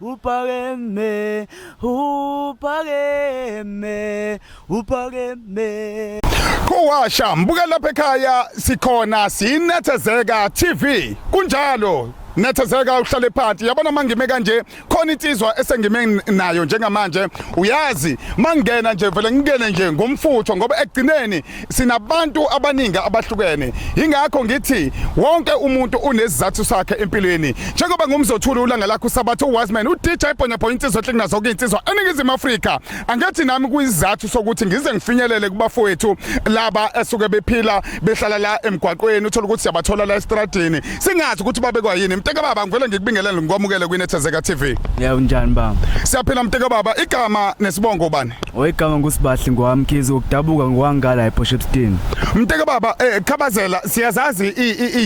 Upakeme, upakeme, upakeme. Khowasha mbuka lapha ekhaya sikhona sinethezeka TV kunjalo nethezeka uhlale phansi yabona mangime kanje khona insizwa esengime nayo njengamanje uyazi mangena nje vele ngingene nje ngomfutho ngoba ekugcineni sinabantu abaningi abahlukene ingakho ngithi wonke umuntu unezizathu sakhe empilweni njengoba ngumzothula ulanga lakho sabathu uWasman uDJ Bonya Boy insizwa ehlekina zonke insizwa eningizimu Afrika angathi nami kuyizathu sokuthi ngize ngifinyelele kubafowethu laba esuke bephila behlala la emgwaqweni uthola ukuthi siyabathola la estradini singazi ukuthi babekwa yini mteka baba ngivele ngikubingelele ngikwamukele kwinethezeka TV yeah unjani baba siyaphila mteka baba igama nesibongo bani oyigama ngusibahle ngwamkhizi ukudabuka ngwangala ePoshepstein mteka baba eh khabazela siyazazi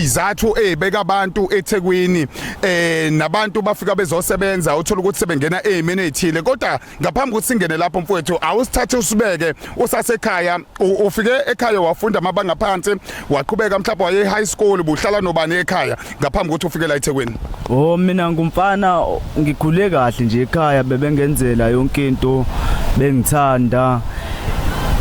izathu ezibeka abantu eThekwini eh nabantu bafika bezosebenza uthola ukuthi sebengena ezimeni ezithile kodwa ngaphambi ukuthi singene lapho mfowethu awusithathe usibeke usasekhaya ufike ekhaya wafunda amabanga phansi waqhubeka mhlawumbe waye high school buhlala nobani ekhaya ngaphambi ukuthi ufike la eThekwini oh mina ngumfana ngikhule kahle nje ekhaya bebengenzela yonke into bengithanda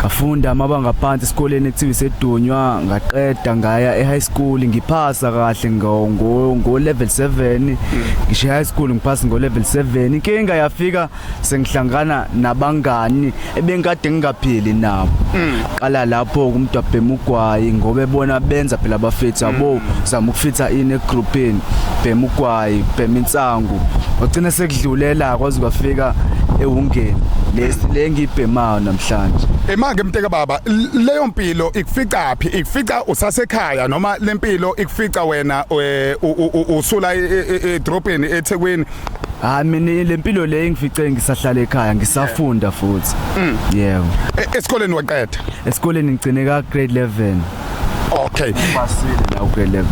ngafunda amabanga phansi esikoleni ekuthiwa isedunywa ngaqeda ngaya e-high school ngiphasa kahle ngo-level 7 ngisho e-high school ngiphasa ngo-level 7 inkinga yafika sengihlangana nabangani ebengikade ngingaphili nabo mm. qala lapho kumdwabhema ugwayi ngoba ebona benza phela abafethu abo mm. zama ukufitha ini egroupini bhema ugwayi bhema insangu ubuhlungu wagcina sekudlulela kwaze kwafika ewungeni lesi le ngibhemayo namhlanje emake mteka baba leyo mpilo ikufica phi ikufica usasekhaya noma lempilo ikufica wena eh, usula edrobheni e, e, eThekwini hayi mina lempilo le engifice ngisahlala ekhaya ngisafunda futhi mm. yebo e, esikoleni waqeda esikoleni ngigcine ka grade 11 Okay. Ubasile la ku 11.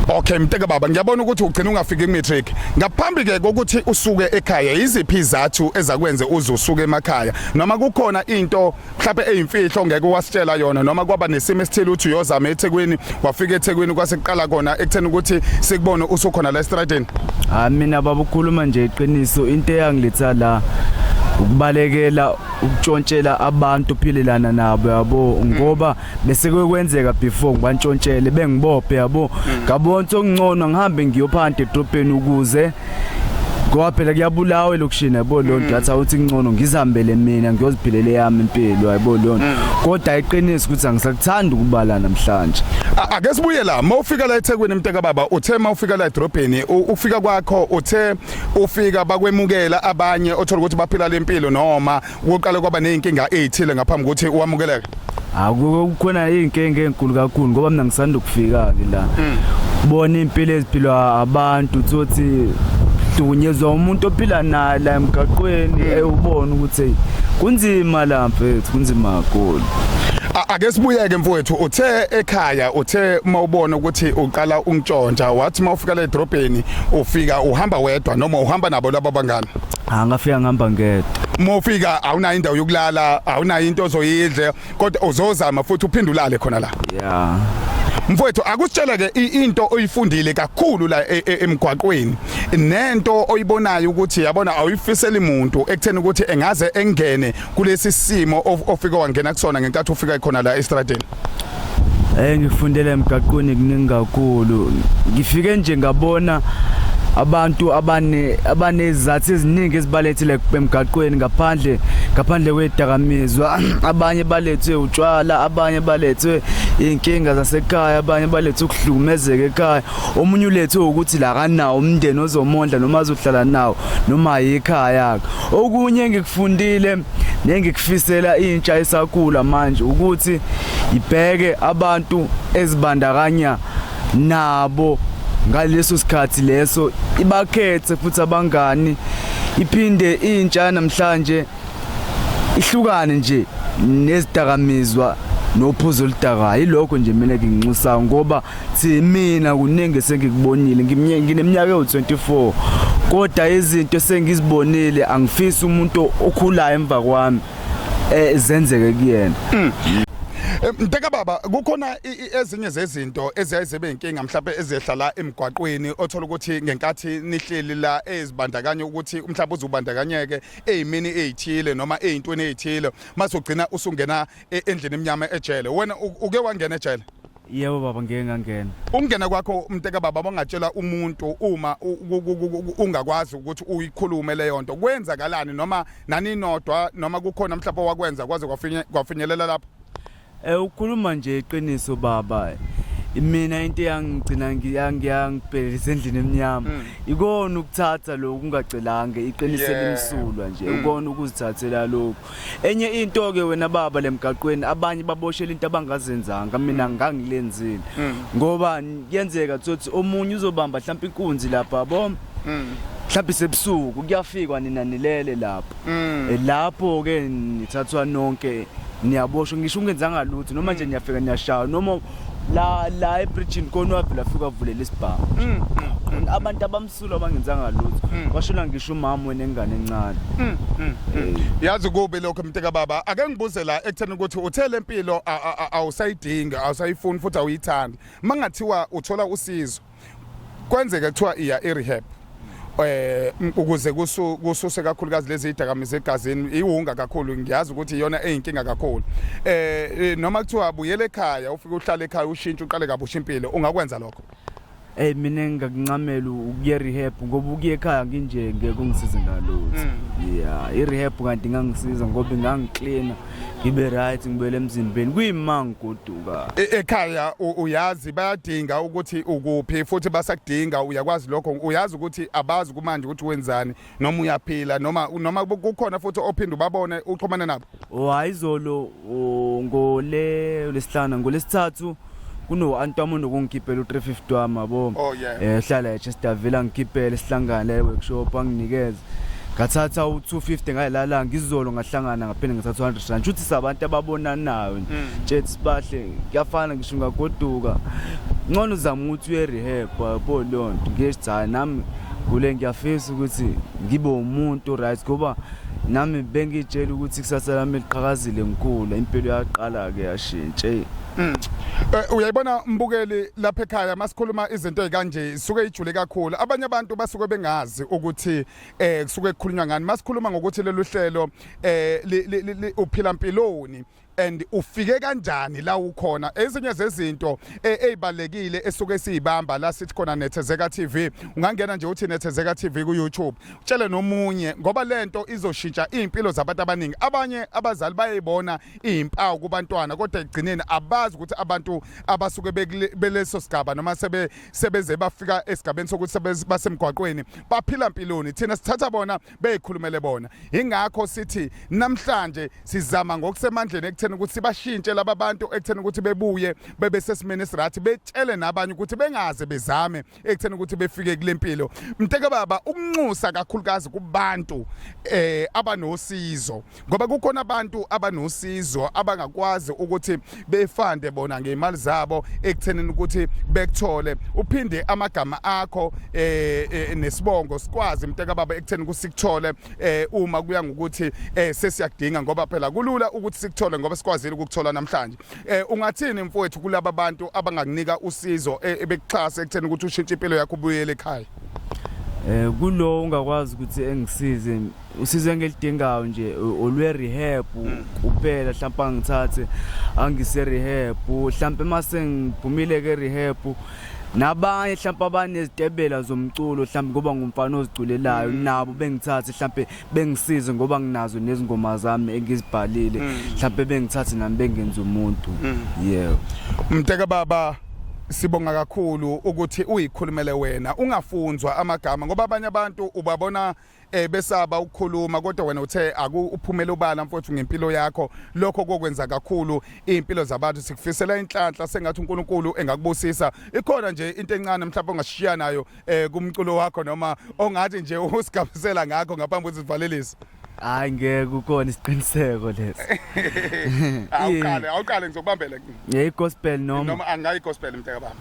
Okay mteke baba ngiyabona ukuthi ugcina ungafiki ku matric. Ngaphambi ke kokuthi usuke ekhaya iziphi izathu ezakwenze uze usuke emakhaya noma kukhona into mhlawumbe eyimfihlo ngeke wasitshela yona noma kwaba nesimo esithile uthi uyozama eThekwini wafika eThekwini kwasekuqala kona ekutheni ukuthi sikubone usukhona la estradini. Ah mina baba ukhuluma nje iqiniso into eyangiletha la ukubalekela ukutshontshela abantu philelana nabo yabo ngoba mm. bese kwekwenzeka before ngibantshontshele bengibophe yabo mm. ngabona sokungcono ngihambe ngiyophanti edrobheni ukuze ngoba phela kuyabulawa elokushini yabo leyo nto lathi mm. awuthi kuncono ngizihambele mina ngiyoziphilela eyami impilo yabo leyo nto mm. kodwa iqiniso ukuthi angisakuthandi ukubala namhlanje ake sibuye la uma ufika la ethekwini mnteka baba uthe uma ufika la edrobheni ufika kwakho uthe ufika bakwemukela abanye othola ukuthi baphila lempilo noma Kuqale kwaba nezinkinga ezithile ngaphambi kokuthi uwamukeleke. Akukhona izinkinga ezinkulu kakhulu ngoba mina ngisanda ukufika ke la. Hmm. Bona impilo eziphilwa abantu uthi uhlukunyezwa umuntu ophila naye la emgaqweni hmm. ewubona ukuthi kunzima la mfethu kunzima kakhulu ake sibuyeke mfowethu uthe ekhaya uthe uma ubona ukuthi uqala ungitshontsha wathi uma ufika le drobheni ufika uhamba wedwa noma uhamba nabo laba bangani Ah, ngafika ngihamba ngedwa uma ufika awunayo indawo yokulala awunayo into ozoyidle kodwa uzozama futhi uphinde ulale khona la ya mfowethu akusitshele ke i- into oyifundile kakhulu la e- e- emgwaqweni nento oyibonayo ukuthi yabona awuyifiseli muntu ekutheni ukuthi engaze engene kulesi simo of- ofike wangena kusona ngenkathi ufika khona la estradeni Eh ngifundele emgaqweni kuningi kakhulu. Ngifike nje ngabona abantu abane abanezathu eziningi ezibalethile emgaqweni ngaphandle ngaphandle kwedakamizwa abanye balethwe utshwala abanye balethwe inkinga zasekhaya abanye balethwe ukuhlukumezeka ekhaya omunye ulethwe ukuthi la kanawo umndeni ozomondla noma azohlala nawo noma yikhaya okunye engikufundile Nengikufisela intsha esakula manje ukuthi ibheke abantu ezibandakanya nabo ngaleso sikhathi leso ibakhethe futhi abangani iphinde intsha namhlanje ihlukane nje nezidakamizwa nophuzo oludakayo ilokho nje mina nginxusayo ngoba Thi mina kuningi esengikubonile ngineminyaka ewu-24 kodwa izinto esengizibonile angifisi umuntu okhulayo emva kwami eh, zenzeke kuyena hmm. Eh, Mteka baba kukhona ezinye zezinto eziyayizebe inkinga mhlawumbe ezehla la emgwaqweni othola ukuthi ngenkathi nihleli la ezibandakanye ukuthi umhlawumbe uzubandakanyeke ezimini ezithile noma ezintweni ezithile mase ugcina usungena e, endlini emnyama ejele wena uke wangena ejele Yebo baba ngeke ngangena. Ukungena kwakho mteka baba bangatshela umuntu uma ungakwazi ukuthi uyikhulume leyo nto kwenzakalani noma naninodwa noma kukhona mhlawumbe wakwenza kwaze kwafinyelela lapho. Eh ukhuluma nje iqiniso baba. Mina into yangigcina ngiyangibhelelisa endlini emnyama. Mm. Ikona ukuthatha lokho ungacelanga iqiniso elimsulwa nje. Mm. Ukona ukuzithathela lokho. Enye into ke wena baba lemgaqweni abanye baboshela into abangazenzanga mina mm. ngangilenzile mm. ngoba kuyenzeka ukuthi omunye uzobamba mhlawumbe inkunzi lapha bo mm. mhlawumbe sebusuku kuyafikwa nina nilele lapho eh, lapho ke nithathwa nonke niyaboshwa ngisho ungenzanga lutho noma nje niyafika niyashaya noma la la ebridge konwavula afika avulela isibhamu abantu abam Sula bangenzanga lutho. Mm. Washona ngisho umama wenengane encane. Mm, mm, mm. Yazi kubi lokho mnteka baba ake ngibuze la ekutheni ukuthi uthe lempilo a- a- a- awusayidingi awusayifuni futhi awuyithandi mangathiwa uthola usizo kwenzeka kuthiwa iya e-rehab eh m- ukuze kusu- kususe kakhulukazi lezi idakamizwa egazini iwunga kakhulu ngiyazi ukuthi iyona eyinkinga kakhulu eh eh, noma kuthiwa buyele ekhaya ufike uhlale ekhaya ushintshe uqale kabusha impilo ungakwenza lokho Hey mina ngingakuncamela ukuye rehab ngoba ukuye ekhaya nginje ngeke ungisize ngalutho. Mm. Yeah, i rehab kanti ngangisiza ngoba ngangicleaner, ngibe right, ngibele emzimbeni. Kuyima ngigoduka. E- Ekhaya u- uyazi bayadinga ukuthi ukuphi futhi basakudinga uyakwazi lokho uyazi ukuthi abazi kumanje ukuthi wenzani noma uyaphila noma noma kukhona futhi ophinde ubabone uxhumane nabo hayi izolo ngole lesihlanu ngolesithathu kuno antwamo nokungikhiphela u350 wami yabo oh, eh hlala eChester Villa ngikhiphele sihlangane workshop anginikeze ngathatha u250 ngayilala ngizolo ngahlangana ngaphinde ngathatha 100 rand uthi sabantu ababonanayo ntshethi mm. sibahle kuyafana ngisho ngagoduka ngcono uzama ukuthi uye rehab yabo lonto ngiye cha nami kule ngiyafisa ukuthi ngibe umuntu right ngoba nami bengitshela ukuthi kusasa lami liqhakazile ngikhula impilo yaqala ke yashintsha mm. eh, uyayibona mbukeli lapha ekhaya masikhuluma izinto ezikanje suke ijule kakhulu abanye abantu basuke bengazi ukuthi eh kusuke kukhulunywa ngani masikhuluma ngokuthi lelu hlelo eh uphila mpiloni and ufike kanjani la ukhona ezinye zezinto e, ezibalekile esuke siyibamba la sithi khona nethezeka TV ungangena nje uthi nethezeka TV ku YouTube utshele nomunye ngoba lento izoshintsha impilo zabantu abaningi abanye abazali bayibona izimpawu kubantwana kodwa egcineni abazi ukuthi abantu abasuke beleso sigaba noma sebe sebeze bafika esigabeni sokuthi basemgwaqweni baphila impiloni thina sithatha bona beyikhulumele bona ingakho sithi namhlanje sizama ngokusemandleni ekutheni ukuthi sibashintshe laba bantu ekutheni ukuthi bebuye bebe sesimeni esirathi betshele nabanye ukuthi bengaze bezame ekutheni ukuthi befike kule mpilo mteke baba ukunxusa kakhulukazi kubantu eh abanosizo ngoba kukhona abantu abanosizo abangakwazi ukuthi befande bona ngemali zabo ekuthenini ukuthi bekuthole uphinde amagama akho eh, eh nesibongo sikwazi mteka baba ekutheni kusikuthole eh uma kuya ngokuthi eh sesiyakudinga ngoba phela kulula ukuthi sikuthole ngoba sikwazile ukukuthola namhlanje eh ungathini mfowethu kulaba bantu abangakunika usizo eh, ebekuxhasa ekutheni ukuthi ushintshe impilo yakho ubuyele ekhaya eh kulo ungakwazi ukuthi engisize usizo engilidingayo nje olwe rehab hmm. kuphela mhlawumbe angithathe angise rehab mhlawumbe mase ngiphumile ke rehab nabanye mhlawumbe abanezitebela zomculo mhlawumbe ngoba ngumfana oziculelayo hmm. nabo bengithathe mhlawumbe bengisize ngoba nginazo nezingoma zami engizibhalile hmm. mhlawumbe bengithathe nami bengenza umuntu yebo mteka baba sibonga kakhulu ukuthi uyikhulumele wena ungafunzwa amagama ngoba abanye abantu ubabona eh besaba ukukhuluma kodwa wena uthe akuphumela ubala mfowethu ngempilo yakho lokho kokwenza kakhulu impilo zabantu sikufisela inhlanhla sengathi uNkulunkulu engakubusisa ikhona nje into encane mhlawumbe ongashiya nayo eh kumculo wakho noma ongathi nje usigabisela ngakho ngaphambi kwezivalelisa hayi ngeke ukona isiqiniseko lesi awuqale awuqale ngizokubambela ngiyi gospel noma noma angayi gospel mntaka bami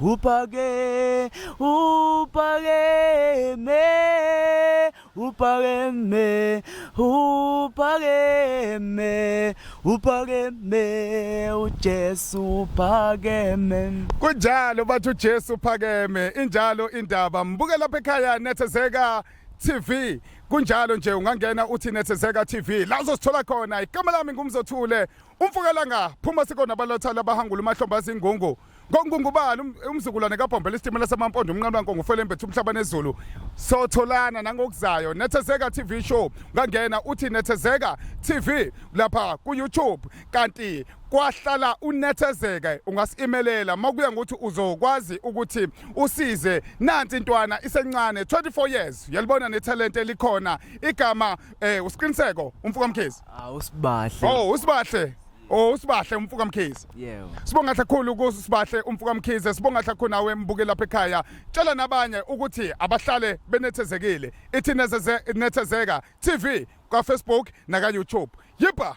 Upake, upake me, upake me, upake me, upake me, uJesu phakeme. Kunjalo bathi uJesu phakeme, injalo indaba. Mbuke lapha ekhaya nethezeka TV kunjalo nje ungangena uthi nethezeka TV la uzosithola khona igama lami ngumzothule umfukelanga phuma sikona balotha labahangula umahlomba zingungu Ngongungubani um, umzukulwane kabhombela isitimela samampondo umnqalo wankongo ufelembethe umhlaba nezulu sotholana nangokuzayo nethezeka tv show ungangena uthi nethezeka tv lapha ku-youtube kanti kwahlala unethezeke ungasimelela makuya ngokuthi uzokwazi ukuthi usize nansi intwana isencane 24 years uyalibona nethalente elikhona igama eh usiqiniseko umfuka mkhizi awusibahle oh usibahle Oh usibahle umfuka mkhize. Yebo. Sibonga kakhulu kusibahle umfuka mkhize. Sibonga kakhulu nawe mbuke lapha ekhaya. Tshela nabanye ukuthi abahlale benethezekile. Ithi nezeze nethezeka TV kwa Facebook naka YouTube. Yipa.